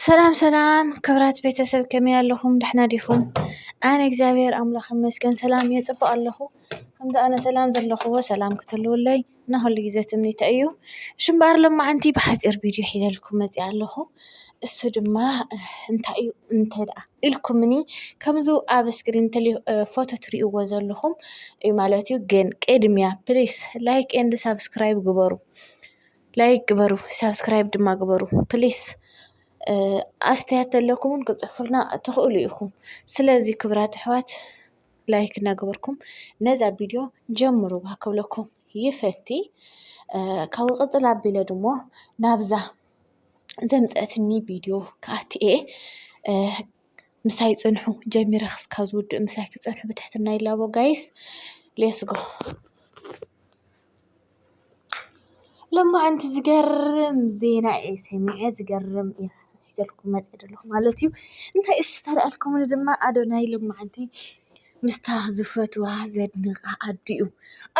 ሰላም ሰላም ክብራት ቤተሰብ ከመይ ኣለኹም ደሕና ዲኹም? ኣነ እግዚኣብሔር ኣምላኽ ይመስገን ሰላም እየ ፅቡቕ ኣለኹ ከምዚ ኣነ ሰላም ዘለኹዎ ሰላም ክትህልዉለይ እና ኹሉ ግዘ ትምኒተይ እዩ። እሺ እምበኣር ሎማዓንቲ ብሓፂር ቪድዮ ሒዘልኩም መፂኣ ኣለኹ። እሱ ድማ እንታይ እዩ እንተድኣ ኢልኩምኒ ከምዚ ኣብ እስክሪን ፎቶ ትሪእዎ ዘለኹም ማለት እዩ ግን ቅድሚያ ፕሊስ ላይክ ኤንድ ሳብስክራይብ ግበሩ። ላይክ ግበሩ ሳብስክራይብ ድማ ግበሩ ፕሊስ ኣስተያየት ተለኩም ዉን ክትጽሕፉልና ትኽእሉ ኢኹም ስለዚ ክብራት ኣሕዋት ላይክ እናገበርኩም ነዛ ቪድዮ ጀምርዋ ክብለኩም ይፈቲ ካብኡ ቅጽል ኣቢለ ድማ ናብዛ ዘምጸአትኒ ቪድዮ ክኣቲ እየ። ምሳይ ጽንሑ ጀሚረ ክስካብ ዝውድእ ምሳይ ክትጸንሑ ብትሕትና ይላቦ ጋይስ ሌስጎ። ሎማዓንቲ ዝገርም ዜና እየ ሰሚዐ ዝገርም እየ ሒዘልኩም መጺኤ ዘለኹ ማለት እዩ። እንታይ እሺ ተልኣልኩምኒ ድማ ኣዶናይ ሎማዓንቲ ምስታ ዝፈትዋ ዘድንቃ ኣዲኡ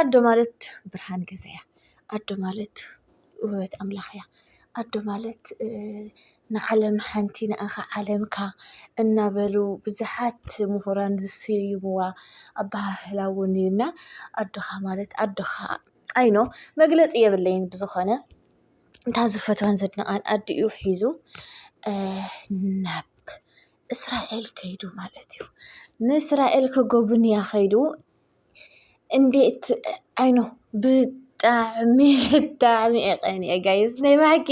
ኣዶ ማለት ብርሃን ገዛያ ኣዶ ማለት ውህበት ኣምላኽ እያ። ኣዶ ማለት ንዓለም ሓንቲ ንኣኻ ዓለምካ እናበሉ ብዙሓት ምሁራን ዝስይምዋ ኣበሃህላ እውን እዩ እና ኣዶኻ ማለት ኣዶኻ ኣይ ዶንት ኖው መግለፂ የብለይን ብዝኾነ እታ ዝፈትዋን ዘድንቓን ኣዲኡ ሒዙ ናብ እስራኤል ከይዱ ማለት እዩ። ንእስራኤል ክጉብንያ ከይዱ። እንዴት ኣይ ኖ ብጣዕሚ ብጣዕሚ እየ ቀኒኤ ጋይስ ናይ ብሓቂ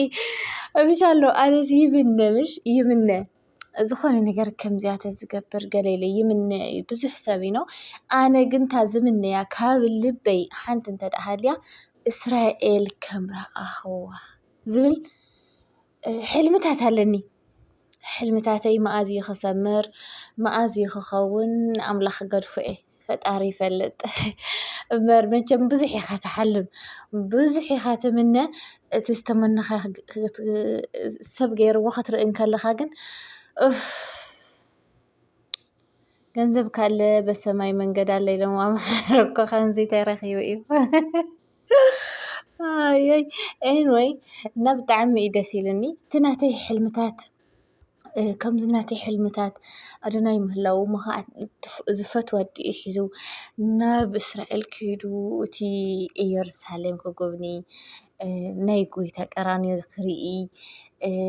እምሽ ኣሎ ኣነስ ይምነ ምሽ ይምነ ዝኾነ ነገር ከምዚኣ ተዝገብር ገለ ኢለ ይምነ እዩ ብዙሕ ሰብ ዩ ኖው ኣነ ግን እታ ዝምነያ ካብ ልበይ ሓንቲ እንተ ድኣ ሃልያ እስራኤል ከም ረኣኹዋ ዝብል ሕልምታት ኣለኒ ሕልምታተይ መኣዝ እዩ ክሰምር መኣዝ እዩ ክኸውን ኣምላኽ ክገድፎ እየ ፈጣሪ ይፈልጥ እምበር መቸም ብዙሕ ኢኻ ትሓልም ብዙሕ ኢኻ ትምነ እቲ ዝተመነኻ ሰብ ገይርዎ ክትርኢ እንከለኻ ግን ኡፍ። ገንዘብ ካለ በሰማይ መንገድ ኣለ ኢሎም ኣምሓራ እኮ ከምዚ ተረኪቡ እዩ ኣይ ኤንወይ እና ብጣዕሚ እዩ ደስ ኢሉኒ እቲ ናተይ ሕልምታት ከምዚ ናተይ ሕልምታት ኣዶናይ ምህላው ምኽዓት ዝፈትዋ ኣዲኡ ሒዙ ናብ እስራኤል ከይዱ እቲ እየሩሳሌም ክጉብኒ ናይ ጎይታ ቀራንዮ ክርኢ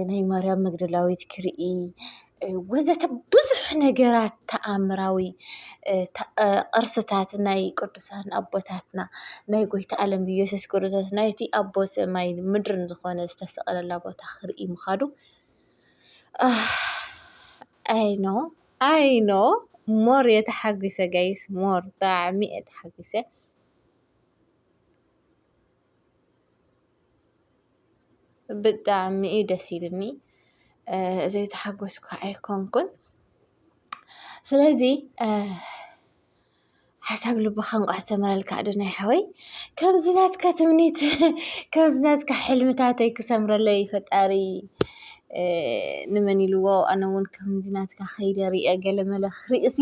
ናይ ማርያም መግደላዊት ክርኢ ወዘተ ብዙሕ ነገራት ተኣምራዊ ቅርስታት ናይ ቅዱሳን ኣቦታትና ናይ ጎይታ ኣለም ኢየሱስ ክርስቶስ ናይቲ ኣቦ ሰማይን ምድርን ዝኾነ ዝተሰቐለላ ቦታ ክርኢ ምኻዱ ኣይኖ ኣይኖ ሞር እየ ተሓጒሰ ጋይስ ሞር ብጣዕሚ እየ ተሓጒሰ። ብጣዕሚ እዩ ደስ ኢልኒ ዘይተሓጎስኩ ኣይኮንኩን ስለዚ ሓሳብ ልብኻ እንቋዕ ሰመረልካ ዶ ናይ ሓወይ ከምዚ ናትካ ትምኒት ከምዚ ናትካ ሕልምታተይ ክሰምረለይ ፈጣሪ ንመን ኢልዎ ኣነ እውን ከምዚ ናትካ ከይደ ርእየ ገለ መለ ክርእሲ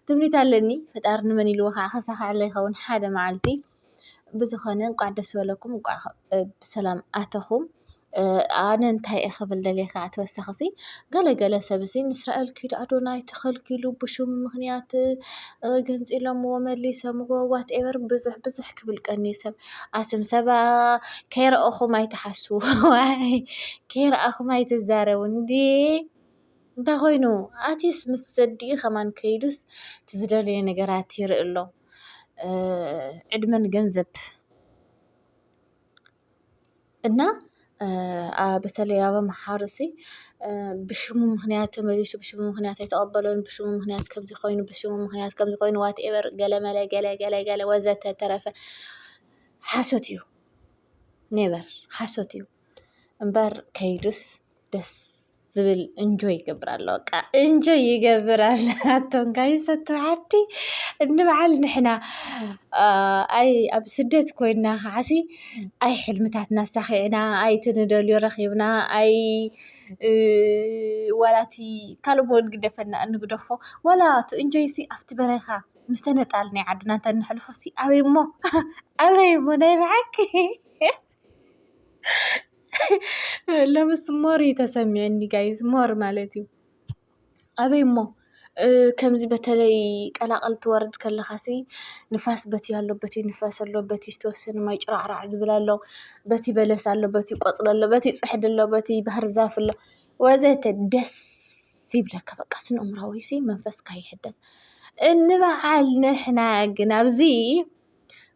ትምኒት ኣለኒ ፈጣሪ ንመን ኢልዎ ከዓ ከሳኽዐለይ ይኸውን ሓደ መዓልቲ። ብዝኾነ እንኳዕ ደስ በለኩም እንኳዕ ብሰላም ኣተኹም። ኣነ እንታይ እየ ክብል ደልየ ከዓ ተወሳኺ እዙይ ገለ ገለ ሰብ እዙይ ንእስራኤል ክይዱ ኣዶናይ ተኸልኪሉ ብሹም ምኽንያት ገንፂሎምዎ መሊሶምዎ ዋት ኤቨር ብዙሕ ብዙሕ ክብል ቀንዩ ሰብ ኣቱም ሰብ ከይረኣኹም ኣይትሓስዉ ዋይ ከይረኣኹም ኣይትዛረቡ እንዴ እንታይ ኾይኑ ኣትዩስ ምስ ዘዲኡ ከማን ከይዱስ እቲ ዝደለዮ ነገራት ይርኢ ኣሎ። ዕድመን ገንዘብ እና በተለይ ኣብ ኣምሓሩ እዚ ብሽሙ ምኽንያት ተመሊሱ ብሽሙ ምኽንያት ኣይተቐበሎን ብሽሙ ምኽንያት ከምዚ ኮይኑ ብሽሙ ምኽንያት ከምዚ ኮይኑ ዋት ኤቨር ገለ መለ ገለ ገለ ገለ ወዘተ ተረፈ ሓሶት እዩ። ኔቨር ሓሶት እዩ። እምበር ከይዱስ ደስ ዝብል እንጆይ ይገብር ኣሎ በቃ እንጆይ ይገብር ኣሎ ኣቶም ጋይሰቱ ዓዲ እንበዓል ንሕና ኣይ ኣብ ስደት ኮይና ከዓሲ ኣይ ሕልምታት ኣሳኺዕና ኣይቲ ንደልዮ ረኺብና ኣይ ዋላቲ ካልእ ቦን ግደፈና እንግደፎ ዋላ እቲ እንጆይሲ ኣብቲ በረኻ ምስ ተነጻልና ዓድና እንተ ነሕልፎሲ ኣበይ እሞ ኣበይ እሞ ናይ በሓቂ ለምስ ሞር እዩ ተሰሚዑኒ ጋይዝ ሞር ማለት እዩ ኣበይ እሞ ከምዚ በተለይ ቀላቕል ትወርድ ከለኻሲ ንፋስ በቲ ኣሎ በቲ ንፋስ ኣሎ በቲ ዝተወሰነ ማይ ጭራዕራዕ ዝብል ኣሎ በቲ በለስ ኣሎ በቲ ቆፅሊ ኣሎ በቲ ፅሕዲ ኣሎ በቲ ባህር ዛፍ ኣሎ ወዘተ ደስ ይብለካ በቃ ስነ ኣእምሮኣዊ መንፈስካ ይሕደስ። እንበዓል ንሕና ግን ኣብዚ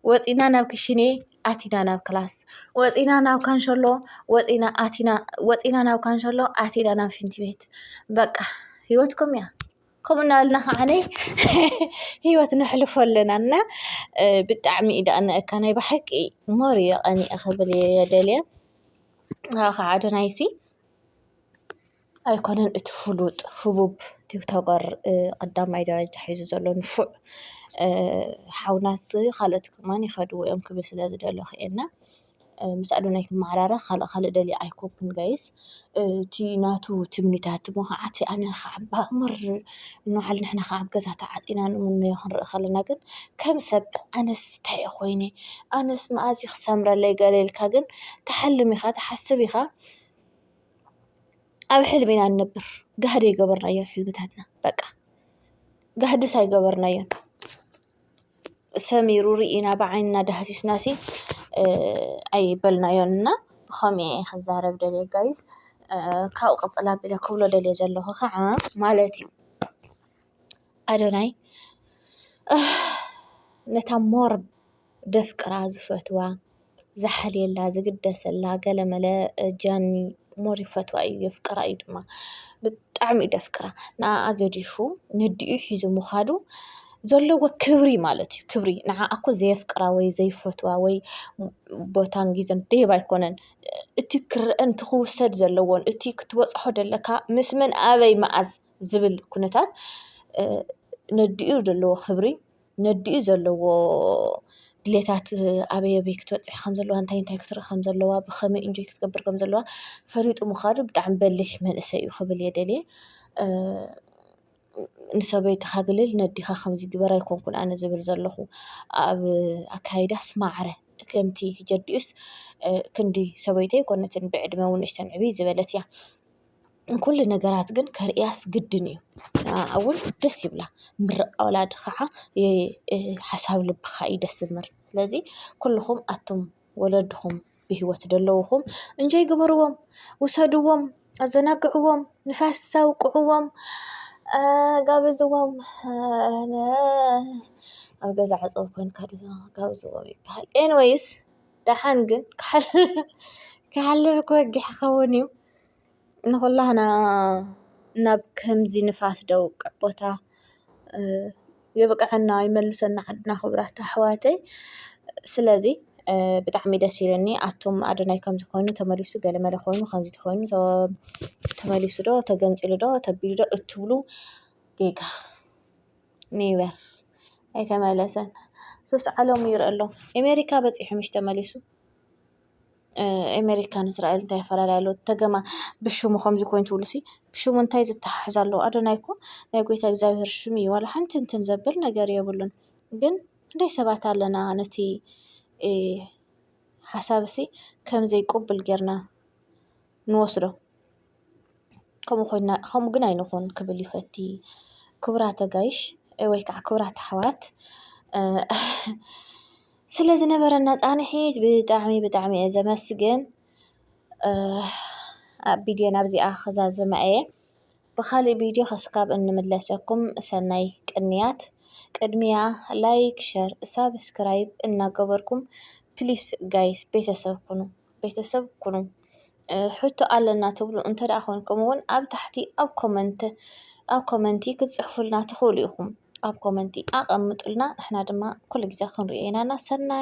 ወጺእና ናብ ክሽኔ ኣቲና ናብ ክላስ ወጺእና ናብ ካንሸሎ ወጺእና ኣቲና ወጺእና ናብ ካንሸሎ ኣቲና ናብ ሽንቲ ቤት በቃ ሂወት ከምኡ እያ ከምኡ እናበልና ከዓ ሂወት ነሕልፎ ኣለና እና ብጣዕሚ እዩ ዘቅንኣካ ናይ ብሓቂ ሞር እዩ ቀኒኤ ክብል እየ ደልየ። ኣይኮነን እቲ ፍሉጥ ህቡብ ቲክቶከር ቀዳማይ ደረጃ ሒዙ ዘሎ ንፉዕ ሓውና ካልኦት ድማ ይኸድዎ እዮም ክብል ስለ ዝደለኹ እየ እና ምስ ኣዶናይ ክመዓራረ ካልእ ካልእ ደልየ ኣይኮንኩን ጋይስ እቲ ናቱ ትምኒታት እሞ ኸዓ እቲ ኣነ ኸዓ ብኣምር ንበዓል ንሕና ኸዓ ኣብ ገዛ ተዓፂና ንምነዮ ክንርኢ ከለና ግን ከም ሰብ ኣነስ ታይ እየ ኮይነ ኣነስ መኣዝ እዩ ክሰምረለይ ገለ ኢልካ ግን ትሓልም ኢኻ ትሓስብ ኢኻ። ኣብ ሕልሚ ኢና ንነብር ጋህዲ ኣይገበርናዮን ሕልምታትና በቃ ጋህድስ ኣይገበርናዮን ሰሚሩ ሪኢና ብዓይንና ዳህሲስና ሲ ኣይበልናዮን እና ብኸምይ እየ ክዛረብ ደልየ ጋይስ ካብኡ ቅጽል ኣቢለ ክብሎ ደልየ ዘለኹ ኸዓ ማለት እዩ ኣዶናይ ነታ ሞር ዘፍቅራ ዝፈትዋ ዝሓልየላ ዝግደሰላ ገለመለ ጃኒ ሞር ይፈትዋ እዩ የፍቅራ እዩ ድማ ብጣዕሚ እዩ ዘፍቅራ ንኣኣ ገዲፉ ነዲኡ ሒዙ ምኻዱ ዘለዎ ክብሪ ማለት እዩ ክብሪ ንዓኣ እኮ ዘየፍቅራ ወይ ዘይፈትዋ ወይ ቦታን ግዘን ደይብ ኣይኮነን እቲ ክረኣን እቲ ክውሰድ ዘለዎን እቲ ክትበጽሖ ዘለካ ምስ መን ኣበይ መኣዝ ዝብል ኩነታት ነዲኡ ዘለዎ ክብሪ። ነዲኡ ዘለዎ ድሌታት ኣበይ ኣበይ ክትበጽሕ ከም ዘለዋ እንታይ እንታይ ክትርኢ ከም ዘለዋ ብኸመይ ኢንጆይ ክትገብር ከም ዘለዋ ፈሊጡ ምኻዱ ብጣዕሚ በሊሕ መንእሰይ እዩ ክብል እየ ደልየ። ንሰበይትኻ ግልል ነዲኻ ከምዚ ግበር ኣይኮንኩን ኣነ ዝብል ዘለኹ ኣብ ኣካይዳስ ማዕረ ከምቲ ሕጂ ኣዲኡስ ክንዲ ሰበይተይ ኣይኮነትን ብዕድመ ዉን ንእሽተን ዕብይ ዝበለት እያ። ንኩሉ ነገራት ግን ከርእያስ ግድን እዩ ንኣኣውን ደስ ይብላ ምርቃ ወላዲ ኸዓ ሓሳብ ልብኻ እዩ ደስ ዝብል ስለዚ ኩሉኹም ኣቱም ወለድኹም ብሂወት ዘለዉኹም እንጆይ ግበርዎም ውሰድዎም ኣዘናግዕዎም ንፋስ ኣውቅዕዎም ጋብዝዎም ኣብ ገዛ ዕፅው ኮይንካ ጋብዝዎም ይበሃል ኤኒወይስ ደሓን ግን ክሓልፍ ክወግሕ ይኸውን እዩ። ንኹላህና ናብ ከምዚ ንፋስ ደውቅዕ ቦታ የብቀዐና ይመልሰና ዓድና ክብራት ኣሕዋተይ ስለዚ ብጣዕሚ ደስ ኢሉኒ ኣቱም ኣዶናይ ከምዚ ኮይኑ ተመሊሱ ገለ መለ ኮይኑ ከምዚ ተኾይኑ ተመሊሱ ዶ ተገንጺሉ ዶ ተቢሉ ዶ እትብሉ ጌጋ። ኒበር ኣይተመለሰን ሱስ ዓለሙ ይርእ ኣሎ ኤሜሪካ በጺሑ ምሽ ተመሊሱ ኤሜሪካ ንእስራኤል እንታይ ኣፈላልያ ኣሎ ተገማ ብሹሙ ኸምዙይ ኮይኑት ብሉሱይ ብሹሙ እንታይ ዘተሓሕዛ ኣለዉ ኣዶናይኮ ናይ ጐይታ እግዚኣብሔር ሹሙ እዩ ዋላ ሓንቲ እንትን ዘብል ነገር የብሉን ግን ክንደይ ሰባት ኣለና ነቲ ሓሳብሲ ከም ዘይቁብል ጌርና ንወስዶ። ከምኡ ኮይና ከምኡ ግን ኣይንኹን ክብል ይፈቲ ክቡራት ኣጋይሽ ወይ ከዓ ክቡራት ኣሕዋት ስለ ዝነበረና ፃንሒት ብጣዕሚ ብጣዕሚ እየ ዘመስግን ኣብ ቪድዮ ናብዚኣ ክዛዝማ እየ ብኻሊእ ቪድዮ ክስካብ እንምለሰኩም ሰናይ ቅንያት ቅድሚያ ላይክ ሸር ሳብስክራይብ እናገበርኩም ፕሊስ ጋይስ ቤተሰብ ኩኑ ቤተሰብ ኩኑ። ሕቶ ኣለና ትብሉ እንተድኣ ኮንኩም እውን ኣብ ታሕቲ ኣብ ኮመንት ኣብ ኮመንቲ ክትጽሕፉልና ትኽእሉ ኢኹም ኣብ ኮመንቲ ኣቐምጡልና ንሕና ድማ ኩሉ ግዜ ክንሪኦ ኢና እና ሰናይ